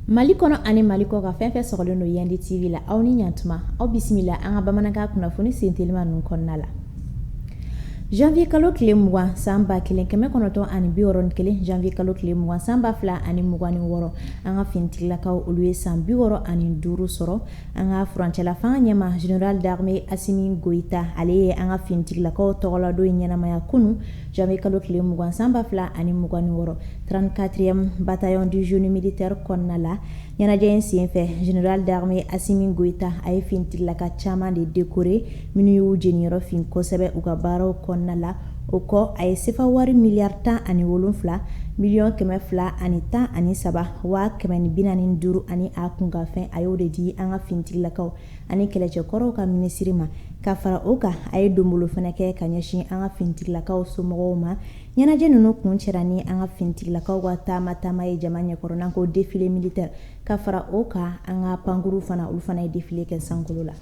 Mali kɔnɔ ani Mali kɔkan fɛn fɛn sɔgɔlen don Yandi TV la aw ni yan tuma aw bisimila an ka bamanankan kunnafoni sen teliman ninnu kɔnɔna la janvier kalo tile mugan san ba kelen kɛmɛ kɔnɔntɔn ani bi wɔɔrɔ ni kelen janvier kalo tile mugan san ba fila ani mugan ni wɔɔrɔ an ka finitigilakaw olu ye san bi wɔɔrɔ ani duuru sɔrɔ an ka furancɛla fanga ɲɛma général d'armée Asimi Goyita ale ye an ka finitigilakaw tɔgɔladon in ɲɛnamaya kunu janvier kalo tile mugan san ba fila ani mugan ni wɔɔrɔ 34e bataillon du génie militaire kɔnɔna la ɲɛnajɛ in senfɛ général d'armée Asimi Goyita a ye finitigilaka caman de décoré minnu y'u jeniyɔrɔ fin kosɛbɛ u ka baaraw kɔnɔna la o kɔ a ye sefa wari miliyari tan ani wolonfila miliyɔn kɛmɛ fila ani tan ani saba waa kɛmɛ ni bi naani ni duuru ani a kunkanfɛn a y'o de di an ka finitigilakaw ani kɛlɛcɛkɔrɔw ka minisiri ma ka fara o kan a ye donbolo fana kɛ ka ɲɛsin an ka finitigilakaw somɔgɔw ma ɲɛnajɛ ninnu kuncɛra ni an ka finitigilakaw ka taama taama ye jama ɲɛkɔrɔ n'an ko défilé militaire ka fara o kan an ka pankurun fana olu fana ye défilé kɛ sankolo la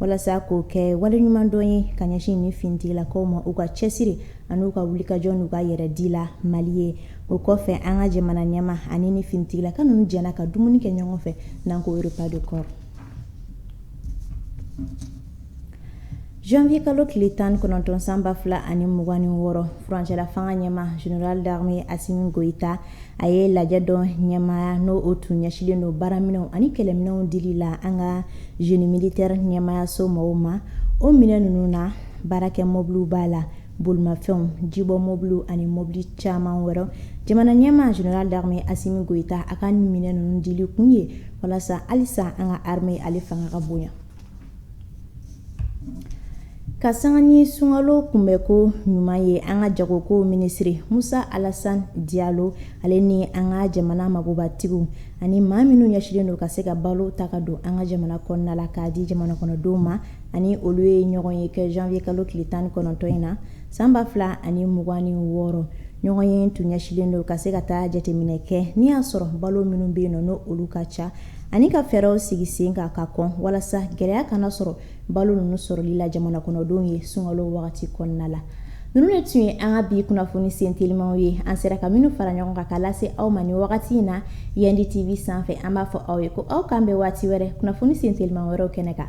walasa k'o kɛ waleɲumandɔn ye ka ɲɛsin ni finitigilakaw ma u ka cɛsiri ani u ka wulikajɔ n'u ka yɛrɛ di la Mali ye o kɔfɛ an ka jamana ɲɛma ani ni finitigilaka ninnu jɛra ka dumuni kɛ ɲɔgɔn fɛ n'an ko repas de corps janvier kalo tile tan kɔnɔntɔn san ba fila ani mugan ni wɔɔrɔ furancɛla fanga ɲɛma général d'armée Asimi Goyita a ye lajɛ dɔ ɲɛmaaya n'o o tun ɲɛsinlen don baaraminɛnw ani kɛlɛminɛnw dili la an ka génie militaire ɲɛmaayaso mɔgɔw ma o minɛn ninnu na baarakɛ mɔbiliw b'a la bolimafɛnw jibɔ mɔbiliw ani mɔbili caman wɛrɛ jamana ɲɛmaa général d'armée Asimi Goyita a ka nin minɛn ninnu dili kun ye walasa halisa an ka armée ale fanga ka bonya Ka sanga ni sunkalo kunbɛnko ɲuman ye an ka jagokow minisiri Musa Alasan Diyalo ale ni an ka jamana magobatigiw ani maa minnu ɲɛsinlen don ka se ka balo ta ka don an ka jamana kɔnɔna la k'a di jamana kɔnɔdenw ma ani olu ye ɲɔgɔnye kɛ janvier kalo tile tan ni kɔnɔntɔn in na san ba fila ani mugan ni wɔɔrɔ ɲɔgɔnye tun ɲɛsinlen don ka se ka taa jateminɛ kɛ n'i y'a sɔrɔ balo minnu bɛ yen nɔ n'olu ka ca ani ka fɛɛrɛw sigi sen kan ka kɔn walasa gɛlɛya kana sɔrɔ balo ninnu sɔrɔli la jamana kɔnɔdenw ye sunkalo wagati kɔnɔna la ninnu de tun ye an ka bi kunnafoni sen telimaw ye an sera ka minnu fara ɲɔgɔn kan k'a lase aw ma ni wagati in na Yandi TV sanfɛ an b'a fɔ aw ye ko aw k'an bɛn waati wɛrɛ kunnafoni sen teliman wɛrɛw kɛnɛ kan